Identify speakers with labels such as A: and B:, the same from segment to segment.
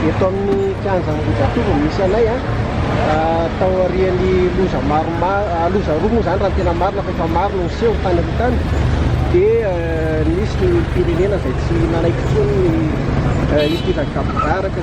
A: Eto amin'ny kianja Ambohijatovo misy anay a, ah, tao aorian'ny loza maromaro, ah, loza roa moa zany raha ny tena marina fa efa maro no niseho tany amin'ny tany dia eh, nisy ny firenena izay tsy nanaiky intsony ny eh, hidirany gabobaraka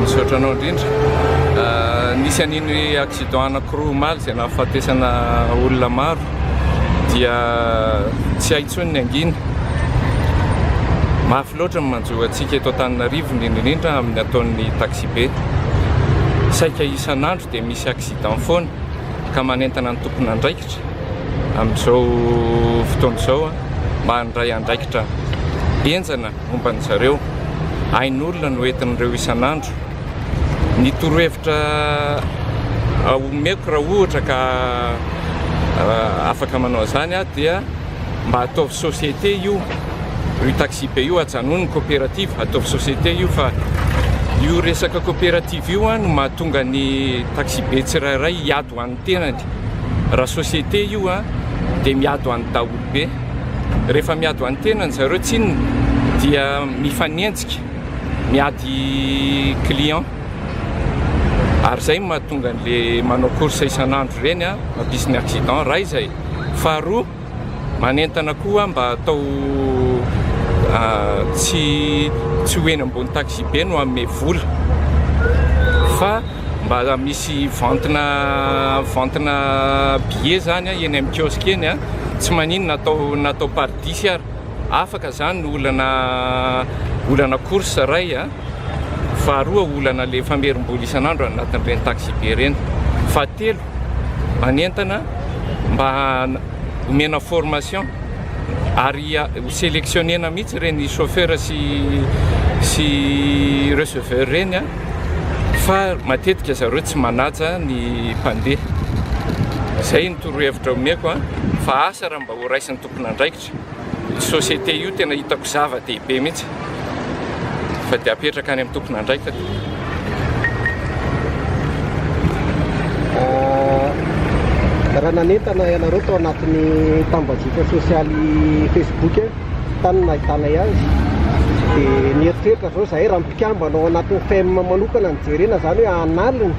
A: Misaotra
B: anao indrindra. Nisy an'iny accident anankiroa omaly izay nahafatesana olona maro dia tsy hay intsony ny angina. Mafy loatra ny manjo antsika eto Antananarivo indrindra indrindra amin'ny ataon'ny taxibe. Saika isan'andro dia misy accident foana ka manentana ny tompon'andraikitra amin'izao fotoana izao mba handray andraikitra henjana. Momba an-dry zareo, ain'olona no entin'ireo isan'andro. Ny torohevitra omeko raha ohatra ka afaka manao an'izany aho dia mba ataovy société io, io taxi-be io ajanony ny coopérative, ataovy société io fa io resaka coopérative io no mahatonga ny taxi-be tsirairay hiady ho an'ny. tenany raha société io an dia miado any daholo be rehefa miado any tenany zareo tsinona dia mifanenjika miady client ary zay mahatonga an'le manao course isan'andro reny an mampisy ny accident ray zay faharoa Manentana koa mba atao tsy tsy ho eny ambony taxibe no hanome vola fa mba misy ventina ventina billet zany eny amin'ny kiosque eny a, tsy maninona atao natao par dix ary afaka zany ny olana olana course iray a, faharoa olana le famerim-bola isan'andro anatin'ireny taxibe ireny, fahatelo. hanentana mba homena formation ary ho selectionnena mihitsy ireny chauffeur sy sy receveur ireny fa matetika zareo tsy manaja ny mpandeha. Izay ny torohevitra omeko fa asa raha mba horaisin'ny tompon'andraikitra. Société io tena hitako zava dehibe mihitsy fa dia apetraka any amin'ny tompon'andraikitra.
A: Raha nanentana ianareo tao anatin'ny tambajotra sosialy Facebook tany no nahitanay azy, dia nieritreritra avy eo izahay raha mpikambana ao anatin'ny FEM manokana no jerena izany hoe hanalina,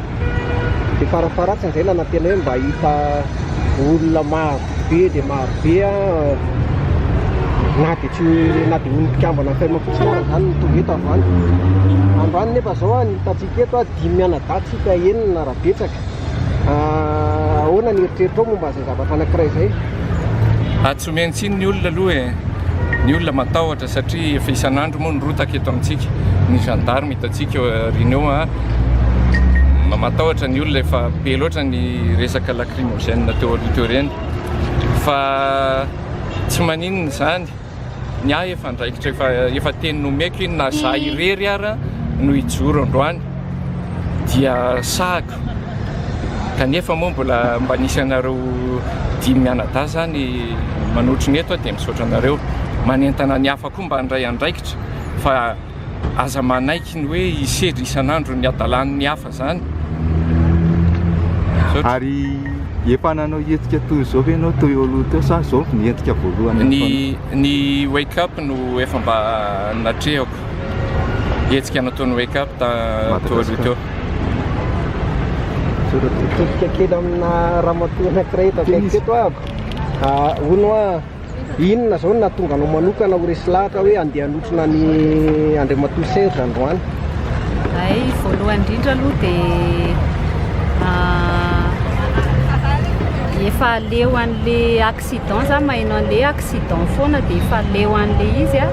A: dia farafaharatsiny izahay nanantena hoe mba hahita olona maro. be dia maro be na dia tsy na dia ny mpikambana fm fotsiny aza izany no tonga eto avy any. Androany nefa izao ny hitantsika eto dimy mianadahy tsika enina raha betsaka. Ah, ahoana ny eritreritro momba izay zavatra anankiray izay? Ah, tsy
B: omeny tsiny ny olona aloha e. Ny olona matahotra satria efa isan'andro moa ny rotaka eto amintsika. Ny gendarme hitantsika eo aoriana eo, ah, matahotra ny olona efa be loatra ny resaka la lacrymogène teo aloha teo ireny fa tsy maninona izany, ny ahy efa andraikitra efa efa teny nomeko iny na za irery ara no hijoro androany dia sahako kanefa moa mbola mba nisy anareo dimy mianadahy zany manotrona eto dia misaotra anareo manentana ny hafa koa mba handray andraikitra fa aza manaiky ny hoe hisedra isan'andro ny hadalan'ny hafa Zany.
C: Ary efa nanao hetsika toy izao ve ianao teo aloha teo sa izao vao nientika voalohany ny fanaovana? Ny Wake
B: Up no efa mba natrehako, hetsika nataon'ny Wake Up teo aloha teo. Madagasikara.
A: Mitodika kely amina ramatoa anankiray eto akaiky eto aho. Hono hoa. Inona izao no nahatonga anao manokana ho resy lahatra hoe handeha hanotrona an'i Andriamatoa Serge androany? Hay,
D: voalohany indrindra aloha dia efa leo an'le accident za maheno an'le accident foana dia efa leo an'le izy a,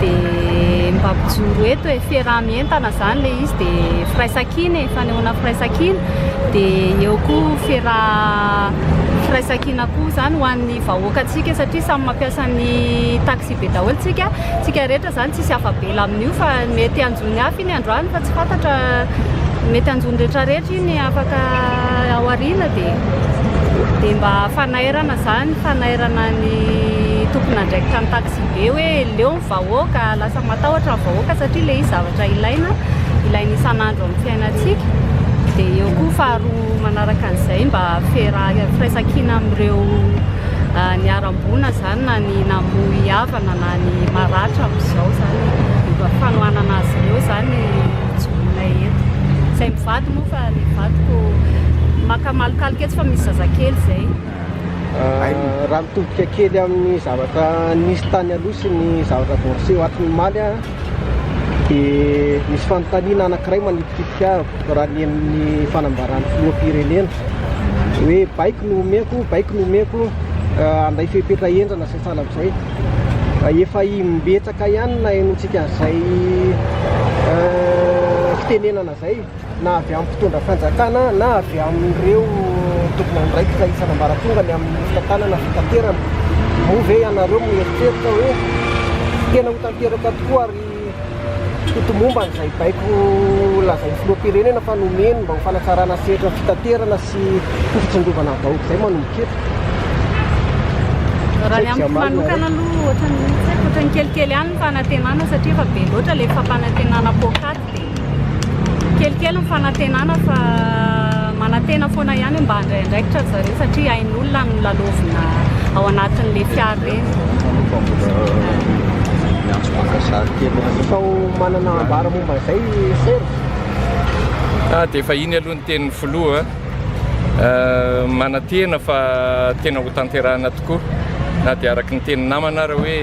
D: dia mba mijoro eto e, fiaraha-mientana zany le izy dia firaisankina e, fanehoana firaisankina, dia eo koa fiaraha- firaisankina koa zany ho an'ny ny vahoakantsika satria samy mampiasa ny taxibe daholo tsika tsika rehetra zany tsisy afabela amin'io fa mety hanjony hafa iny androany fa tsy fantatra mety hanjony rehetra rehetra iny afaka ao arina de de mba fanairana zany fanairana ny tompon'andraikitra ny taxibe hoe leo ny vahoaka lasa matahotra ny vahoaka satria le izy zavatra ilaina ilaina isan'andro amin'ny fiainantsika de eo koa faharoa Manaraka an'izay, mba fiaraha, firaisan-kina amin'ireo niharam-boina izany na ny namoy havana na ny maratra amin'izao izany, mba fanohanana azy ireo izany joinay eto. Izay mivady moa fa ny vadiko maka malokaloka eto fa misy zazakely izay.
A: Raha mitodika kely amin'ny zavatra nisy tany aloha sy ny zavatra vao niseho ato ny omaly, dia misy fanontaniana anankiray manitikitika ahy raha ny amin'ny fanambaran'ny filoham-pirenena hoe baiko no omeko, baiko no omeko eh, anday fepetra hendrana sy sahala amin'izay. Eh, efa imbetsaka ihany na henontsika an'izay eh, fitenenana izay. na avy amin'ny mpitondra fanjakana na avy amin'ireo tompon'andraikitra isan'ambaratonga ny amin'ny fitantanana fitaterana. Moa ve ianareo mieritreritra hoe tena ho tanteraka tokoa ary ho tomomba an'izay baiko lazain'ny filoham-pirenena fa nomeny mba ho fanatsarana sehatra ny fitaterana sy ho fitsindrovana ny vahoaka izay manomboka eto? Raha ny amiko manokana
D: aloha ohatran'ny tsy haiko, ohatran'ny kelikely ihany ny fanantenana satria efa be loatra ilay fampanantenana poakaty. Kelikely ny fanantenana fa manantena foana ihany hoe mba handray andraikitra ry zareo satria ain'olona ny lalaovina ao anatin'ilay fiara ireny. miantso
A: Mangazary kely Sao manana ambara momba izay Serge?
B: Ah, dia efa iny aloha ny tenin'ny filoha an! Ah, manantena fa tena ho tanterahina tokoa na dia araka ny tenin'ny namana ary hoe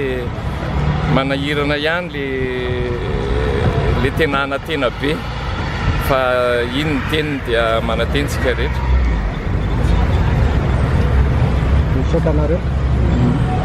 B: manahirana ihany. Ilay ilay tena anantena be fa iny ny teniny dia manantena isika rehetra. Misaotra anareo.